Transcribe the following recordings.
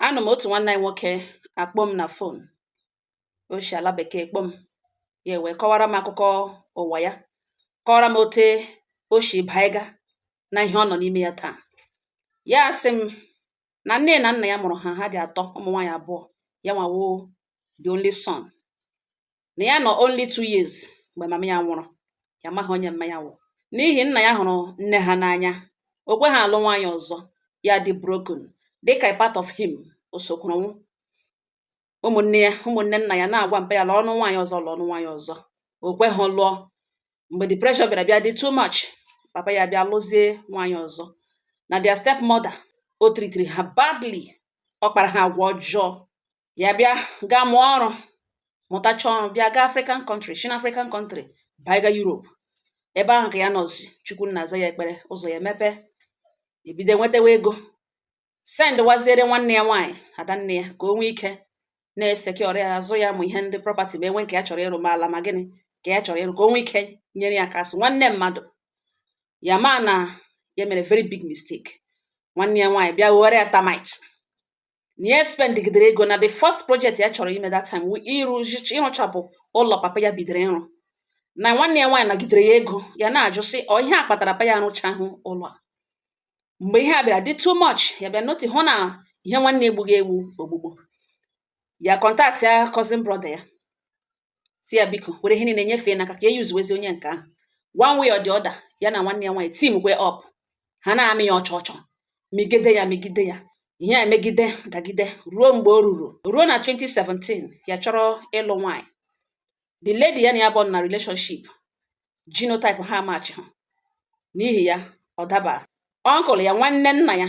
anọ m otu nwanne anyị nwoke akpọọ m na fon o shi ala bekee kpọọ m ya wee kọwara m akụkọ ụwa ya kọwara m ote o shi baiga na ihe ọ nọ n'ime ya taa ya sị m na nne na nna ya mụrụ ha ha dị atọ ụmụ nwaanyị abụọ ya nwa wụ the only son na ya nọ only two years mgbe mama ya nwụrụ ya amaghị onye mma ya wụ n'ihi nna ya hụrụ nne ha n'anya o kweha alụ nwaanyị ọzọ ya dị broken dịka part of him o sokwuru nwụọ ụmụnne ya ụmụnne nna ya na-agwa mpa ya lụọnụ nwaanyị ọzọ lụọnụ nwaanyị ọzọ o kweha lụọ mgbe the pressure bịara bịa dị too much papa ya bịa lụzie nwaanyị ọzọ na their stepmother o tritiri ha badly ọ kpara ha agwa ọjọọ ya bịa gaa mụọ ọrụ mụtacha ọrụ bịa gaa african country shi n'african country baiga europe ebe ahụ ka ya nọzi chukwu nna azaa ya ekpere ụzọ ya emepe ebido nwetawa ego sendwaziere nwanne ya nwaanyị adanne ya ka o nwee ike na-esekiọrọ ya azụ ya ma ihe ndị prọpati ma e nwee nke ya chọrọ ịrụ ma ala ma gịnị ka ya chọrọ ịrụ ka o nwee ike nyere ya aka a sị nwanne mmadụ ya ma na ya mere very big mistake nwanne ya nwaanyị bịa were ya termite na ya spendgidere ego na the first project ya chọrọ ime that time ịrụchapụ ụlọ papa ya bidoro ịrụ na nwanne ya nwaanyị nagidere ya ego ya na-ajụ sị ọ ihe a kpatara mpa ya arụchahụ ụlọ a mgbe ihe a bịara dị too much ya bịa nọtị hụ na ihe nwanne egbughị egbu ogbugbo ya kọntaktịa cousin brother ya sị ya biko were ihe niile nyefee n'aka ka e yuzuwezi onye nke ahụ one way or the other ya na nwanne ya nwaanyị timkwe ọp ha na-amị ya ọchọ ọchọ migide ya migide ya ihe a emegide dagide ruo mgbe o ruru ruo na 2017 ya chọrọ ịlụ nwaanyị the lady ya na ya bụ na relationship genotype ha amachịha n'ihi ya ọ daba ọnkụl ya nwanne nna ya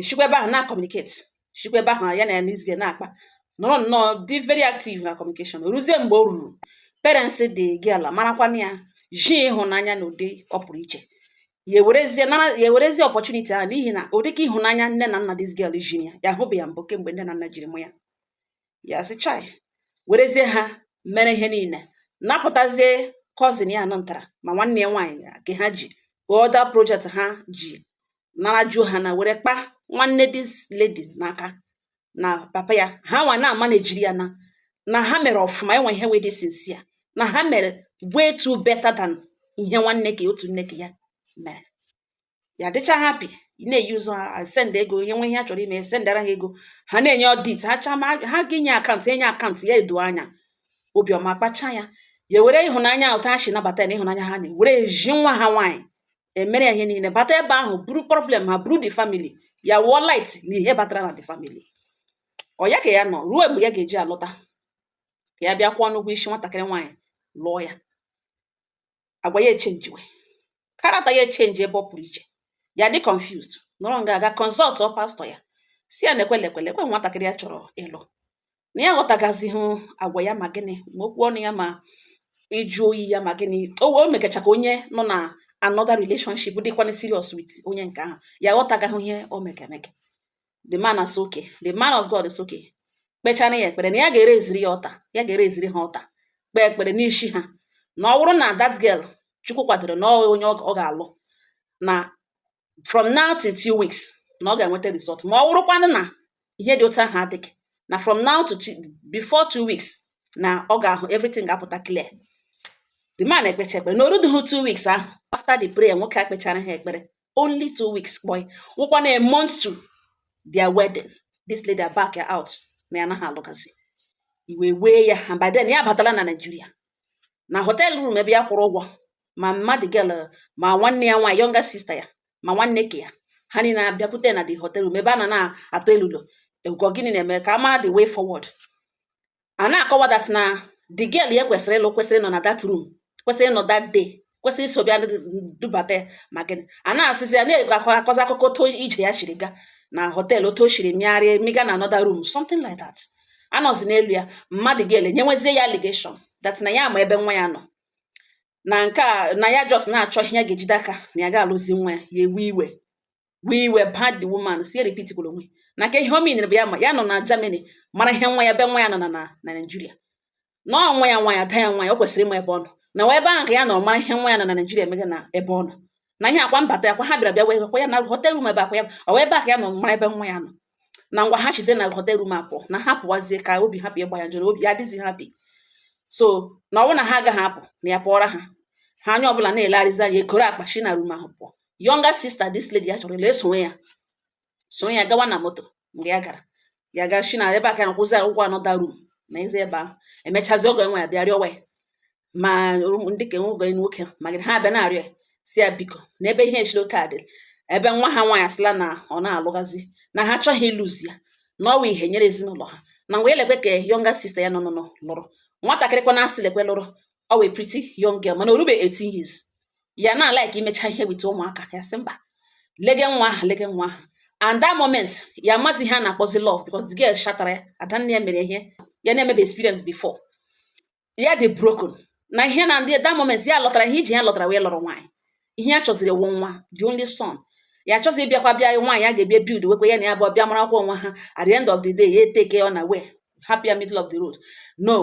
eshikwa ebe ahụ na-akọmuniketi shikwa ebe ahụ ya na this girl na-akpa nọrọ nnọọ dị very active na kọmunikeshọn ruzie mgbe o ruru parents the girl marakwana ya ji ịhụnanya na ụdị ọ pụrụ iche ya ewerezie nara ya ewerezie ọpọchuniti ahụ n'ihi na ụdị ka ịhụnanya nne na nna this girl ji ya ya ahụbe ya mbụ kemgbe nne na nna jiri mụọ ya ya sị chai werezie ha mere ihe niile napụtazie cousin ya nọ ntara ma nwanne ya nwaanyị ka ha ji other project ha ji nara ju ha na were kpa nwanne this lady n'aka na papa ya ha nwa na-amanejiri ya na na ha mere ọfụma enwe ihe wee dị sincere na ha mere way too better than ihe nwanne ya otu nne ji ya mere ya dịcha happy na-eyuzu ha send ego e nwee ihe ha chọrọ ime sendara ha ego ha na-enye ọdit ha chaa ma ha ga-enye akaụntụ enye akaụntụ ya edo anya obi ọma akpachaa ya ya were ịhụnanya ote ha si nabata ya na ịhụnanya ha na were ji nwa ha nwaanyị emere ya ihe niile bata ebe ahụ buru problem ha buru the family ya wụọ light na ihe batara na the family ọ ya ka ya nọ ruo mgbe ya ga-eji alọta ka ya bịa kwụọnụ ụgwọ isi nwatakịrị nwaanyị lụọ ya agwa ya echenjiwe character ya echenji ebe ọ pụrụ iche ya dị confused nọrọ nga aga consultuo pastọ ya sị ya lekwe lekwe lekwe nwatakịrị ya chọrọ ịlụ na ya aghọtagazịghị agwa ya ma gịnị ma okwu ọnụ ya ma ịjụ oyi ya ma gịnị o wee megacha ka onye nọ na another relationship dịkwana serious with onye nke ahụ ya aghọtagaghị ihe o mega emega the man sị okay the man of God sị okay kpechara ya ekpere na ya ga-ereziri ya altar ya ga-ereziri ha altar kpee ekpere n'isi ha na ọ bụrụ na that girl Chukwu kwadoro na ọ onye ọ ga-alụ na from now to two weeks na ọ ga-enweta result ma ọ wụrụkwanụ na ihe dị otu ahụ adịghị na from now to before two weeks na ọ ga-ahụ everything ga-apụta clear the man ekpecha ekpere na o rudughị two weeks ahụ after the prayer nwoke a kpechara ha ekpere only two weeks but ọ wụkwanụ a month to their wedding this lady back out na ya anaghị alụgazi iwe wee ya and by then ya abatala na Nigeria na hotel room ebe ya kwụrụ ụgwọ ma mma the girl ma nwanne ya nwaanyị younger sister ya ma nwanne nke ya ha niile abịakwute na the hotel room ebe a na na-atụ elulo ekwuga gịnị na-eme ka a mara the way forward a na-akọwa that na the girl ya kwesịrị ịlụ kwesịrị ịnọ na that room kwesịrị ịnọ that day kwesịrị iso bịa dubata ya ma gịnị a na-asịzi ya na-akọzi akụkọ otu ije ya shiri gaa na hotel otu o shiri mịgharịa mịga na another room something like that a nọzi n'elu ya mma the girl nyewezie ya allegation that na ya ma ebe nwa ya nọ na nke a na ya just na-achọ ihe ya ga-ejide aka na ya ga-alụzi nwa ya ya ewe iwe wee iwe bad the woman sị ya repeat kwuru onwe na kee ihe o meanịrị bụ ya ma ya nọ na Germany mara ihe nwa ya ebe nwa ya nọ na na Naịjirịa na ọ nwa ya nwa ya ada ya nwa ya o kwesịrị ịma ebe ọ nọ na ọ wụ ebe ahụ ka ya nọ mara ihe nwa ya nọ na Naịjirịa emega na ebe ọ nọ na ihe akwa mbata ya kwa ha bịara bịa wee kwa ya na hotel room ebe akwa ya ọ ebe a ka ya nọ mara ebe nwa ya nọ na ngwa ha shizie na hotel room apụ na ha pụwazie ka obi hapụ ịgba ya njọrọ obi ya adịzi happy so na ọ bụrụ na ha agaghị apụ na ya pụọra ha ha onye ọbụla na-elegharịzi anya ekoro akpa shi na room ahụ pụọ younger sister this lady ya chọrọ ịlụ esowe ya sowe ya gawa na moto mgbe ya gara ya ga shi na ebe aka na kwụzi ụgwọ another room nọzie ebe ahụ emechazi ọgọ nwaanyị abịa rịọwa ya ma ndị nke nwoke nwoke ma gịnị ha abịa na-arịọ ya sị ya biko na ebe ihe shiri otu a dịrị ebe nwa ha nwaanyị asịla na ọ na-alụghazi na ha achọghị ilose ya na ọ wụ ihe nyere ezinụlọ ha na ngwa lekwe ka younger sister ya nọ nọ lụrụ nwatakịrịkwa na-asị lekwe lụrụ ọ wụ a pretty young girl mana o rube 18 years ya na like imecha ihe with ụmụaka ya sị mba lege nwa ahụ lege nwa ahụ and that moment ya amazi ihe a na-akpọzi love because the girl shatara ya adanne ya mere ihe ya na-emebe experience before ya dị broken na ihe na ndị that moment ya lọtara ihe iji ya lọtara wee lụrụ nwaanyị ihe ya chọziri wụ nwa the only son ya chọzi ịbịakwa bịa nwaanyị a ga-ebịa bildwekwa ya na ya bụ ọ bịa mara akwụkwọ nwa ha at the end of the day ya eteke unaware hapụ ya middle of the road no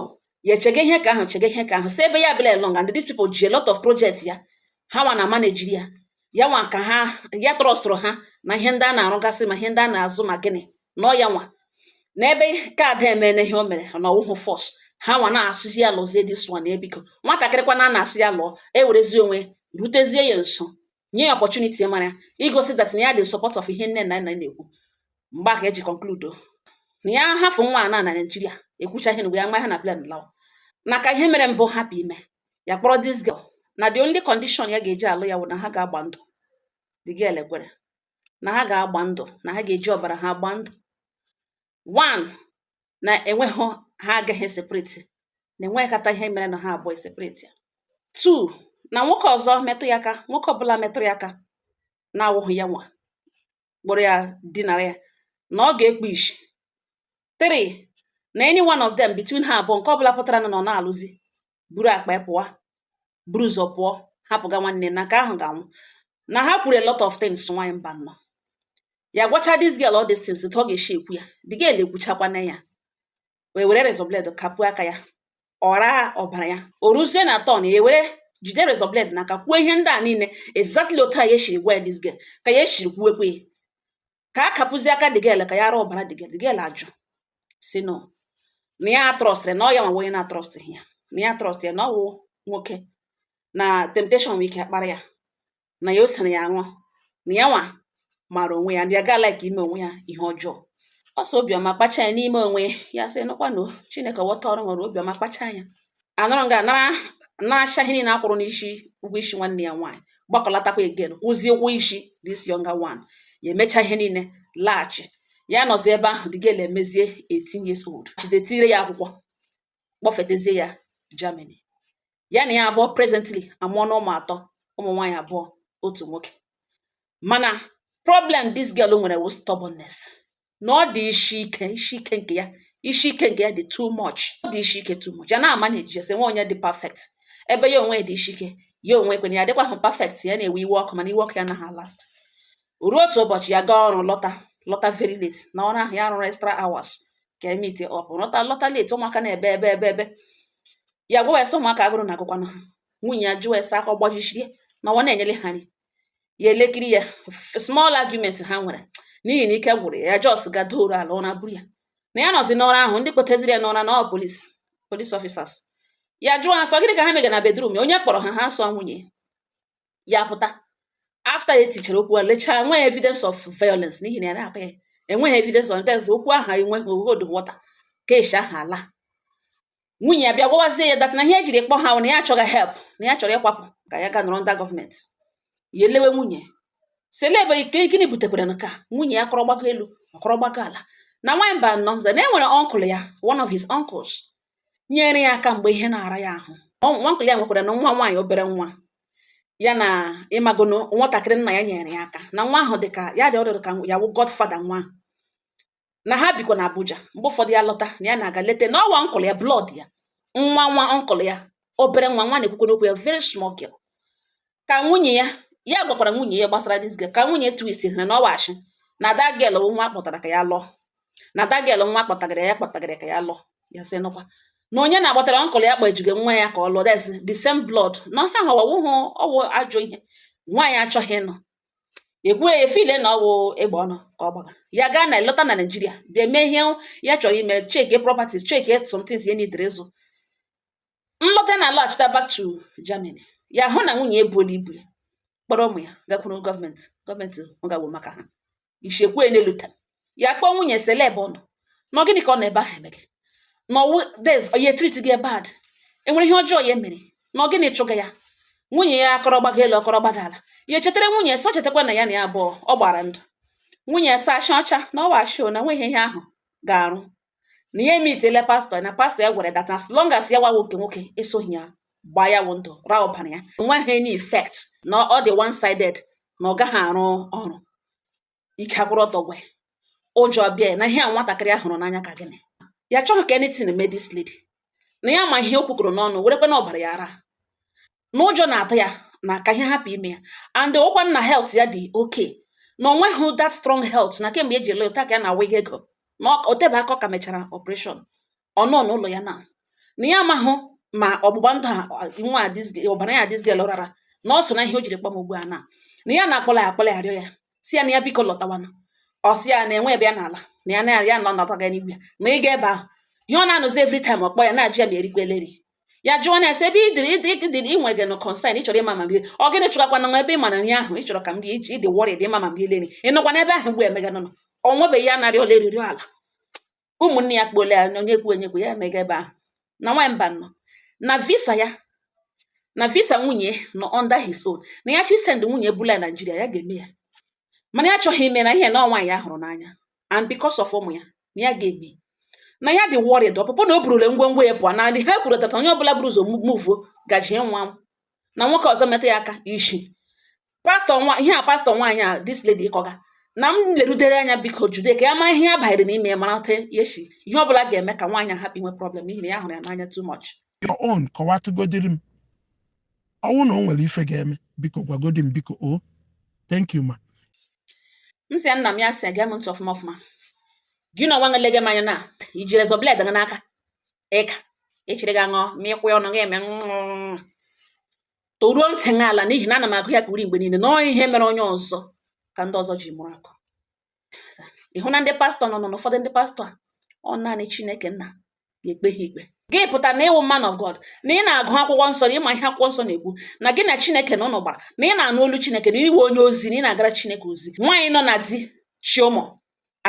ya echege ihe ka ahụ chege ihe ka ahụ si ebe ya bịla long and these people ji a lot of projects ya ha nwa na-amanejiri ya ya nwa ka ha ya trọstụrụ ha na ihe ndị a na-arụgasị ma ihe ndị a na-azụ ma gịnị nọ ya nwa n'ebe ka ada emene ihe o mere na ọ wụhụ force ha nwa na-asịzi ya lụzie this one ebiko nwatakịrịkwa na na-asị ya lụọ ewerezi onwe rutezie ya nso nye ya opportunity mara ya igosi that na ya dị support of ihe nne na nna na-ekwu mgbe ahụ eji konkludo na ya hafụ nwa na na naijiria ekwucha ihe na ya ma ha na plan law na ka ihe mere mbụ hapụ ime ya kpọrọ this girl na the only condition ya ga-eji alụ ya wụ na ha ga-agba ndụ the girl ekwere na ha ga-agba ndụ na ha ga-eji ọbara ha gbaa ndụ one na enweghị ha agaghị esepreti na enwekata ihe mere na ha abụọ esepreti ya two na nwoke ọzọ metụ ya aka nwoke ọbụla metụrụ ya aka na-awụghị ya nwa kpọrọ ya dinara ya na ọ ga-ekpu ishi three na any one of them between ha abụọ nke ọbụla pụtara na ọ na-alụzi buru akpa ya pụọ buru ụzọ pụọ hapụga nwanne na nke ahụ ga-anwụ na ha kwuru a lot of things nwaanyị mba nọ ya gwacha this girl all these things ọ ga-esi ekwu ya the girl ekwuchakwana ya wee were razor blade kapụ aka ya ọ raa ọbara ya o ruzie na turn ya were jide razor blade n'aka kwuo ihe ndị a niile exactly otu a ya esiri gwa this girl ka ya esiri kwuwekwe ya ka a kapụzi aka the girl ka ya ara ọbara the girl the girl ajụ sị no na ya trọstịrị na ọ ya nwa onye na-atrọstị ya na ya trọstị ya na ọ wụ nwoke na temptation nwere ike akpara ya na ya o sere ya aṅụ na ya nwa maara onwe ya na ya agaghị like ime onwe ya ihe ọjọọ ọ sị obiọma kpacha anya n'ime onwe ya sị nụkwanụ chineke wọta ọrụ nwere obiọma kpacha anya anọrọ nga nara naracha ihe niile a kwụrụ n'isi ụgwọ isi nwanne ya nwaanyị gbakọlatakwa again kwụzie ụgwọ isi this younger one ya emecha ihe niile laghachi ya nọzi ebe ahụ the girl emezie 18 years old chize tire ya akwụkwọ kpọfetezie ya Germany ya na ya abụọ presently amụọna ụmụ atọ ụmụ nwaanyị abụọ otu nwoke mana problem this girl nwere wụ stubbornness na ọ dị isi ike isi ike nke ya isi ike nke ya dị too much ọ dị isi ike too much ya na-amaneji sị enweghị onye dị perfect ebe ya onwe dị isi ike ya onwe kwena ya dịkwahụ perfect ya na-ewe iwe ọkụ mana iwe ọkụ ya naghị last ruo otu ụbọchị ya gaa ọrụ lọta lọta very late na ọrụ ahụ ya rụrụ extra hours ka e meet up lọta lọta late ụmụaka na-ebe ebe ebe ebe ya gwa ya sị ụmụaka agụrụ na-agụkwanụ ha nwunye ya jụọ ya sị aka ọ gbajisiri na ọ na-enyere ha nri ya elekiri ya small argument ha nwere n'ihi na ike gwụrụ ya just ga doro ala ụra buru ya na ya nọzi n'ụra ahụ ndị kpọteziri ya n'ụra na ọ police police officers ya jụọ ha sị ọ gịnị ka ha mega na bedroom ya onye kpọrọ ha ha sị ọ nwunye ya pụta after ya etichara okwu a lechaa nweghị evidence of violence n'ihi na ya na-akpa ya enweghị evidence of violence okwu ahụ enweghị hold water case ahụ ala nwunye ya bịa gwawazie ya that na ihe o jiri kpọ ha na ya chọga help na ya chọrọ ịkwapụ ka ya ga nọrọ ndị gọọmenti ya elewe nwunye sị ele ebe ike gịnị butekwara nke a nwunye ya kọrọ gbaga elu ọ kọrọ gbaga ala na nwaanyị mba nọ mza na enwere uncle ya one of his uncles nyere ya aka mgbe ihe na-ara ya ahụ na uncle ya nwekwara na nwa nwaanyị obere nwa ya na ịmagono nwatakịrị nna ya nyere ya aka na nwa ahụ dịka ya dị ọ dị ka ya wụ godfather nwa na ha bikwa na Abuja mgbe ụfọdụ ya lọta na ya na-aga leta na ọ wụ uncle ya blood ya nwa nwa uncle ya obere nwa nwa na-ekwukwanụ okwu ya very small girl ka nwunye ya ya gwakwara nwunye ya gbasara this girl ka nwunye twist hụrụ na ọ wụ ashị na that girl bụ nwa a kpọtara ka ya lụọ na that girl nwa kpọtagara ya kpọtagara ka ya lụọ ya sị nụkwa na onye na-agbatara uncle ya kpajigo nwa ya ka ọ lụọ that's the same blood na ihe ahụ ọ wụ ọ wụ ajọ ihe nwaanyị achọghị ịnụ e kwuru ya feel na ọ wụ egbe ọnụ ka ọ gbaga ya gaa na lọta na Nigeria bịa mee ihe ya chọrọ ime check properties check some things ya needịrị ịzụ nlọta na alọghachita back to Germany ya hụ na nwunye ebuola ibu ya kpọrọ ụmụ ya gakwuru gọọmenti gọọmenti ọ gawo maka ha ichekwa na lọta ya kpọọ nwunye sị ele ebe ọ nọ na gịnị ka ọ nọ ebe ahụ emege na ọ wụ that ya treat gị bad enwere ihe ọjọọ ya mere na gịnị chụga ya nwunye ya akọrọ gbaga elu ọ kọrọ gbaga ala ya echetara nwunye sị ọ chetakwa na ya na ya abụọ gbara ndụ nwunye ya sị ya ashị ọcha na ọ wụ ashị na nweghị ihe ahụ ga-arụ na ya emeetiela pastor na pastor ya gwara ya that as long as ya nwa wụ nke nwoke esoghị ya gbaa ya wụ ndụ raa ọbara ya enweghị any effect na ọ dị one sided na ọ gaghị arụ ọrụ ike agwụrụ odogwu ụjọ bịa na ihe a nwatakịrị a hụrụ n'anya ka gịnị ya achọghị ka anything mee this lady na ya ma ihe o kwukọrọ n'ọnụ werekwanụ ọbara ya raa na ụjọ na-atụ ya na ka ihe hapụ ime ya and ọkwa na health ya dị okay na o nwehụ that strong health na kemgbe o ji lọta ka ya na wig ego na o tebe aka ka e mechara operation ọ nọ n'ụlọ ya na na ya amahụ ma ọgbụgba ndụ ha nwa ọbara ya this girl rara na ọ so na ihe o jiri kpọọ m ugbu a na na ya na-akpọla ya akpọla ya arịọ ya sị ya na ya biko lọtawanụ ọ sị ya na enweghị ebe ya na-ala na ya na ya nọ nọtaga n'igwe ya na ịga ebe ahụ ihe ọ na-anụzi every time ọ kpọọ ya na-ajụ ya ma o rikwala nri ya jụọ na ese ebe idiri idiri ị nwere genuine concern ịchọrọ ịma ma m rie ọ gịnị chụgakwa na nwa ebe ị ma na nri ahụ ịchọrọ ka m rie iji ịdị worried ịma ma m riele nri ị nọkwa n'ebe ahụ mgbe emeganụnụ ọ nwebeghị ya narị ole eriri ala ụmụnne ya kpole ya onye kwu onye kwu ya mega ebe ahụ na nwaanyị mba nọ na visa ya na visa nwunye nọ under his own na ya chọọ ịsend nwunye bula ya naijiria ya ga-eme ya mana ya achọghị ime n'ihi na ọ nwaanyị ya hụrụ n'anya and because of ụmụ ya na ya ga-eme na ya dị worried ọpụpụ na o burule ngwongwo ya pụọ na ndị ha kwuru tata onye ọbụla buru ụzọ muvuo gaji nwa na nwoke ọzọ metụ ya aka isi ihe a pastọ nwaanyị a this lady kọga na m lerudere anya biko jude ka ya mara ihe ya banyere n'ime ya marata ya sị ihe ọ bụla ga-eme ka nwaanyị a hapụ inwe problem n'ihi na ya hụrụ ya n'anya too much your own kọwatụgodiri m ọ wụ na o nwere ife ga-eme biko gwagodi m biko o thank you ma m sị ya nna m ya sị ya gee m ntị ọfụma ọfụma gị nọ nwa nlege m anya na i ji rezọ bled gị n'aka ịga echiri gị aṅụ ma ịkwụ ya ọnụ gị eme toruo ntị gị ala n'ihi na ana m agụ ya ka uri mgbe niile na ọ ihe mere onye ọzọ ka ndị ọzọ ji mụrụ akọ ị hụ na ndị pastọ nọ n'ụfọdụ ndị pastọ a ọ naanị chineke nna ga-ekpe ha ikpe gị pụta na ị wụ man of God na ị na-agụ akwụkwọ nsọ na ị ma ihe akwụkwọ nsọ na-ekwu na gị na chineke na unu gbara na ị na-anụ olu chineke na ị wụ onye ozi na ị na-agara chineke ozi nwaanyị nọ na di chị ụmụ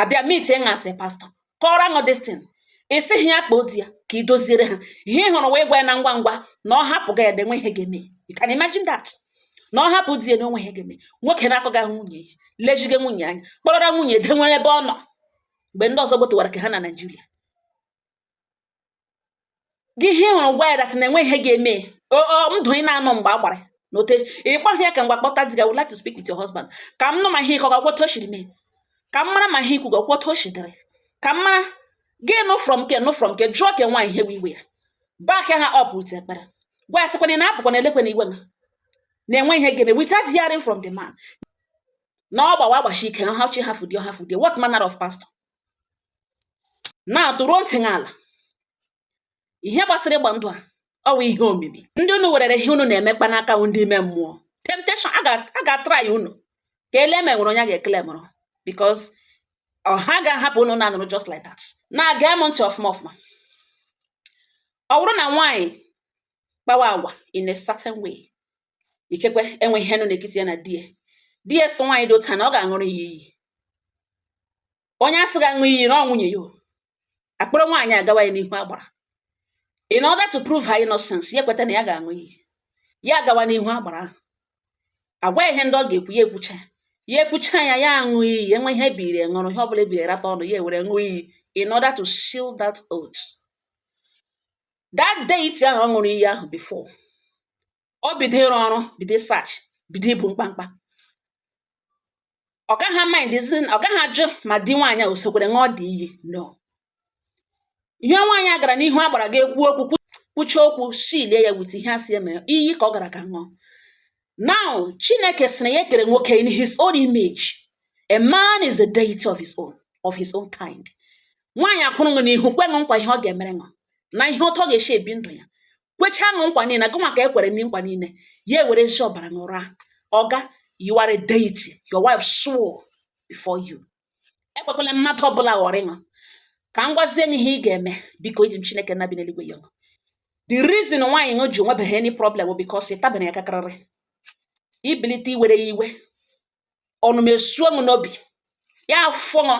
abịa mit ị ṅa sị pastọ kọọrọ ṅụ distin ị sịghị ya kpọọ di ya ka i doziere ha ihe ị hụrụ wụ ịgwa ya na ngwa ngwa na ọ hapụga di ya na enwe ihe ga-eme you can imagine that na ọ hapụ di ya na onwe ihe ga-eme nwoke na-akọga nwunye ihe lezige nwunye anya kpọrọra nwunye dewere ebe ọ nọ mgbe ndị ọzọ gbotowara ke ha na naijiria gị ihe ị hụrụ gwa ya that na enwe ihe ga-eme ndụ ị na-anọ mgbe a gbara na ote ị gwaghị ya ka mgbe kpọta di gị i would like to speak with your husband ka m nụ ma ihe ị kọga kwa otu o siri mee ka m mara ma ihe i kwuga kwa otu o si dịrị ka m mara gị nụ from ke nụ from ke jụọ ke nwaanyị ihe bụ iwe ya back ha up with ekpere gwa ya sịkwa na apụkwana ewekwana iwe na na-enwe ihe ga-eme without hearing from the man na ọ gbawa agbachi ike ha chi how could you how could you what manner of pastor na toruo ntị n'ala ihe gbasara ịgba ndụ a ọ wụ ihe omimi ndị unu werere ihe unu na-emekpa n'aka bụ ndị ime mmụọ temptation a ga-atry unu ka e lee ma e nwere onye ga-ekele mụrụ because ọha ga-ahapụ unu na-anụrụ just like that na gee m ntị ọfụma ọfụma ọ bụrụ na nwaanyị kpawa agwa in a certain way ikekwe enwe ihe nọ n'ekiti ya na di ya di ya sị nwaanyị dị otu a na ọ ga-aṅụrụ ya iyi onye a sị ga-aṅụ iyi na ọ nwunye ya a kpọrọ nwaanyị agawa ya n'ihu agbara in order to prove her innocence ya kweta na ya ga-aṅụ iyi ya agawa n'ihu agbara ahụ a gwa ihe ndị ọ ga-ekwu ya ekwucha ya ekwucha ya ya aṅụ iyi enwe ihe ebiri ṅụrụ ihe ọ bụla ebiri rata ọnụ ya ewere ṅụọ iyi in order to seal that oath that deity ahụ ọ ṅụrụ iyi ahụ before ọ bido ịrụ ọrụ bido search bido ibu mkpamkpa ọ gaghị amindzi ọ gaghị ajụ ma di nwaanyị a o sokwere ṅụọ the iyi no ihe nwaanyị a gara n'ihu agbara ga ekwu okwu kwuchaa okwu sealie ya with ihe a si eme iyi ka ọ gara ga ṅụọ Now, Chineke sị na ya kere nwoke in his own image. A man is a deity of his own, of his own kind. Nwaanyị akwụrụ ṅụ n'ihu kwe ṅụ nkwa ihe ọ ga-emere ṅụ na ihe otu ọ ga-esi ebi ndụ ya. Kwechaa ṅụ nkwa niile, gụnwa ka e kwere ndị nkwa niile, ya ewerezi ọbara ṅụra. Oga, you are a deity. Your wife swore before you. ekwekwala mmadụ ọbụla ghọrị ṅụ ka m gwazie ṅụ ihe ị ga-eme biko eji m chineke nna bi n'eluigwe ayọ ṅụ the reason nwaanyị ṅụ ji nwebeghị any problem because ị tabere ya akakarịrị i bilite iwere ya iwe ọnụma esuo ṅụ n'obi ya afụọ ṅụ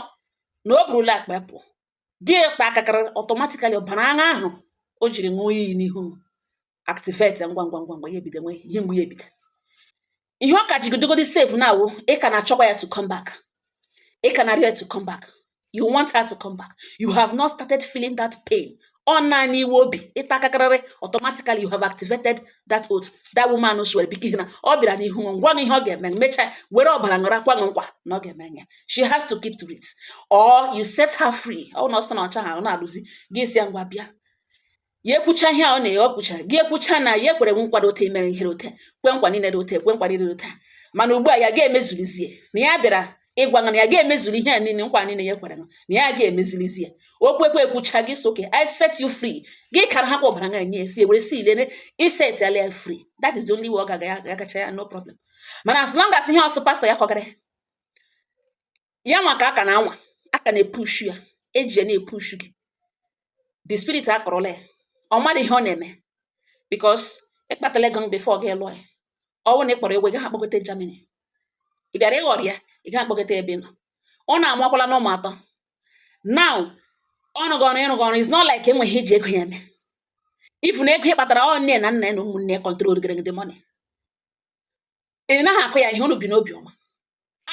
na o burula akpa pụọ gị ataa akakarịrị automatically ọbara aṅa ahụ o jiri ṅụọ iyi n'ihu activate ngwa ngwa ngwa ngwa ya ebido inwe ihe mgbu ya ebido ihe ọ ka ji dịgodi safe now wụ ị ka na-achọkwa ya to come back ị ka na-arịọ ya to come back you want her to come back you have not started feeling that pain ọ naanị iwe obi ịta akakarịrị automatically you have activated that oath that woman swore because na ọ bịara n'ihu ṅụ gwa ihe ọ ga-eme mechaa were ọbara ṅụra kwe nkwa na ọ ga-eme ya she has to keep to it or you set her free ọ na ọ sị na ọ chọha ọ na-alụzi gị asị ya ngwa bịa ya ekwucha ihe ọ na-enye ọ kwucha gị ekwucha na ya ekwere gị nkwa dị ote imere ihe dị ote kwe nkwa niile dị ote kwe nkwa niile dị ote mana ugbu a ya ga-emezulizie na ya bịara ịgwa na ya ga-emezuli ihe a niile nkwa niile ya kwere na ya ga-emezilizie okwu ekwe ekwucha gị asị okay i set you free gị kara ha kwa ọbara nga nye si ewere sealie ị set ya free that is the only way ọ ga-agacha ya no problem mana as long as ihe ọsụ pastor ya kọgara ya nwa ka a ka na-anwa a ka na-epushu ya e ji ya na-epushu gị the spirit akpọrọla ya ọ mara ihe ọ na-eme because ị kpatala ego before gị lụọ ya ọ wụ na ị kpọrọ egwe gị ha kpọgote Germany ị bịara ịghọrị ya ị gaghị akpọgote ebe ị nọ ọ na-amụkwala ṅụ ụmụ atọ now ọ rụghị ọrụ ọ rụghị ọrụ is not like e nwere ihe ị ji ego ya eme even ego ị kpatara ọ nne na nna ya na ụmụnne ya control gịrị gị the money ị naghị akụ ya ihe unu bi n'obi ọma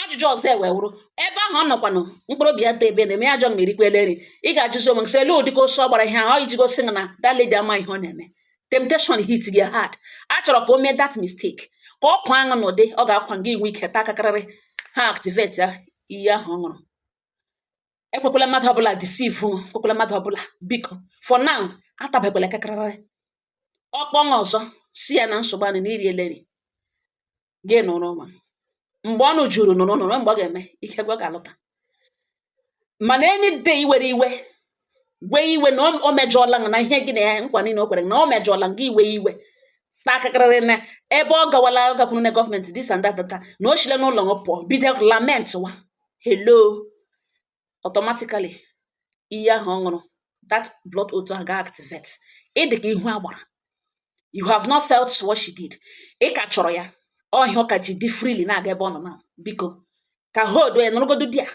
ajụjụ ọzọ ewee wụrụ ebe ahụ ọ nọkwanụ mkpụrụ obi ya tọ ebe a na-eme ya ajọ mma erikwala eri ị ga-ajụzi onwe sị elu ụdịka ọsọ ọ gbara ihe ahụ iji gosi na that lady ama ihe ọ na-eme temptation hit gị hard a chọrọ ka o mee that mistake ka ọ kwaa ṅụ n'ụdị ọ ga-akwa gị ị nwee ike taa akakarịrị ha activate ya iyi ahụ ọ ṅụrụ ekwekwala mmadụ ọbụla deceive ekwekwala mmadụ ọbụla biko for now atabekwala akakarịrị ọ kpọọ nwa ọzọ sị ya na nsogbu anị na iri eleri gị nụrụ nwa mgbe ọnụ juru nụrụ nụrụ mgbe ọ ga-eme ike gwa ga-alụta mana any day i were iwe wee iwe na o mejọọla na ihe gị na ya nkwa niile o kwere na o mejọọla gị iwe iwe takarịrị na ebe ọ gawala ọ gakwuru na gọọmenti this and that na o shile n'ụlọ pụọ bido lament wa hello automatically ihe ahụ ọ ṅụrụ that blood oath ahụ ga-activate ị dị ka ihu agbara you have not felt what she did ị ka chọrọ ya ọ ihe ọ ka ji dị freely na-aga ebe ọ nọ na biko ka hold ya nọrọgodo di a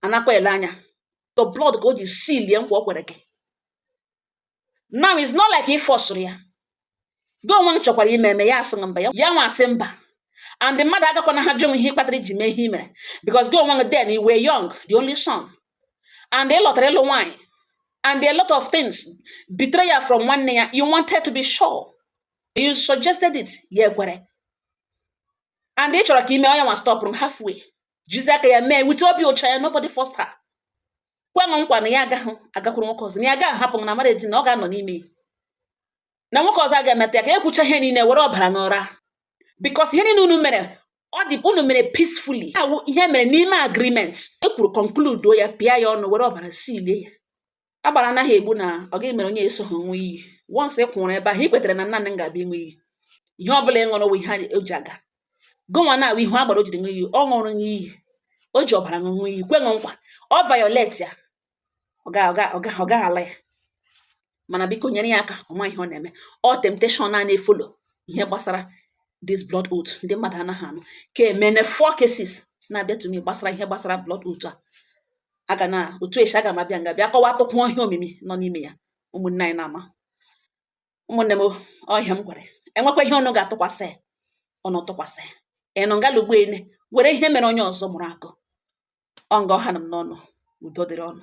anakwa ele anya the blood ka o ji silie nkwa o kwere gị now it's not like ị fọsụrụ ya gụnwa chọkwara ime eme ya asị na mba ya ya nwa asị mba and mmadụ agakwanaha ajụ ihe kpatara i ji mee ihe i mere because gụnwa then you were young the only son and ị lọtara ịlụ nwaanyị and a lot of things betrayal from nwanne ya you wanted to be sure you suggested it ya ekwere and ị chọrọ ka i mee ọ ya nwa stọpụrụ m halfway jizi aka ya mee with obi ọcha ya nobody forced her kwe m nkwa na ya agaghị agakwuru nwoke ọzọ na ya agaghị ahapụ m na marriage na ọ ga-anọ n'ime ya na nwoke ọzọ agaghị emetụ ya aka e kwuchaa ihe niile were ọbara ṅụọra because ihe niile unu mere ọ dị unu mere peacefully ọ wụ ihe e mere n'ime agreement e kwuru conclude ya pịa ya ọnụ were ọbara silie ya agbara anaghị egbu na ọ gị mere onye e so ha ṅụọ iyi once ị kwụrụ ebe ahụ ị kwetara na nna ga-abịa ịṅụ iyi ihe ọ bụla ị ṅụrụ wụ ihe o ji aga gụnwa na ihu agbara o jiri ṅụọ iyi ọ ṅụrụ gị iyi o ji ọbara ṅụọ gị iyi kwe gị nkwa ọ violate ya ọ ga-ala ya mana biko nyere ya aka ọ ma ihe ọ na-eme ọ temptation a na-efolo ihe gbasara this blood oath ndị mmadụ anaghị anụ ka emene four cases na-abịa to me gbasara ihe gbasara blood oath a aga na otu e si aga m abịa nga bịa kọwaatụkwuo ihe omimi nọ n'ime ya ụmụnne anyị na-ama ụmụnne m ọ ihe m gwara e nwekwaa ihe unu ga-atụkwasị unu tụkwasị ịnụ ngalugbu ene were ihe mere onye ọzọ mụrụ akọ ọ nga ọ hana m n'ọnụ udo dịrị unu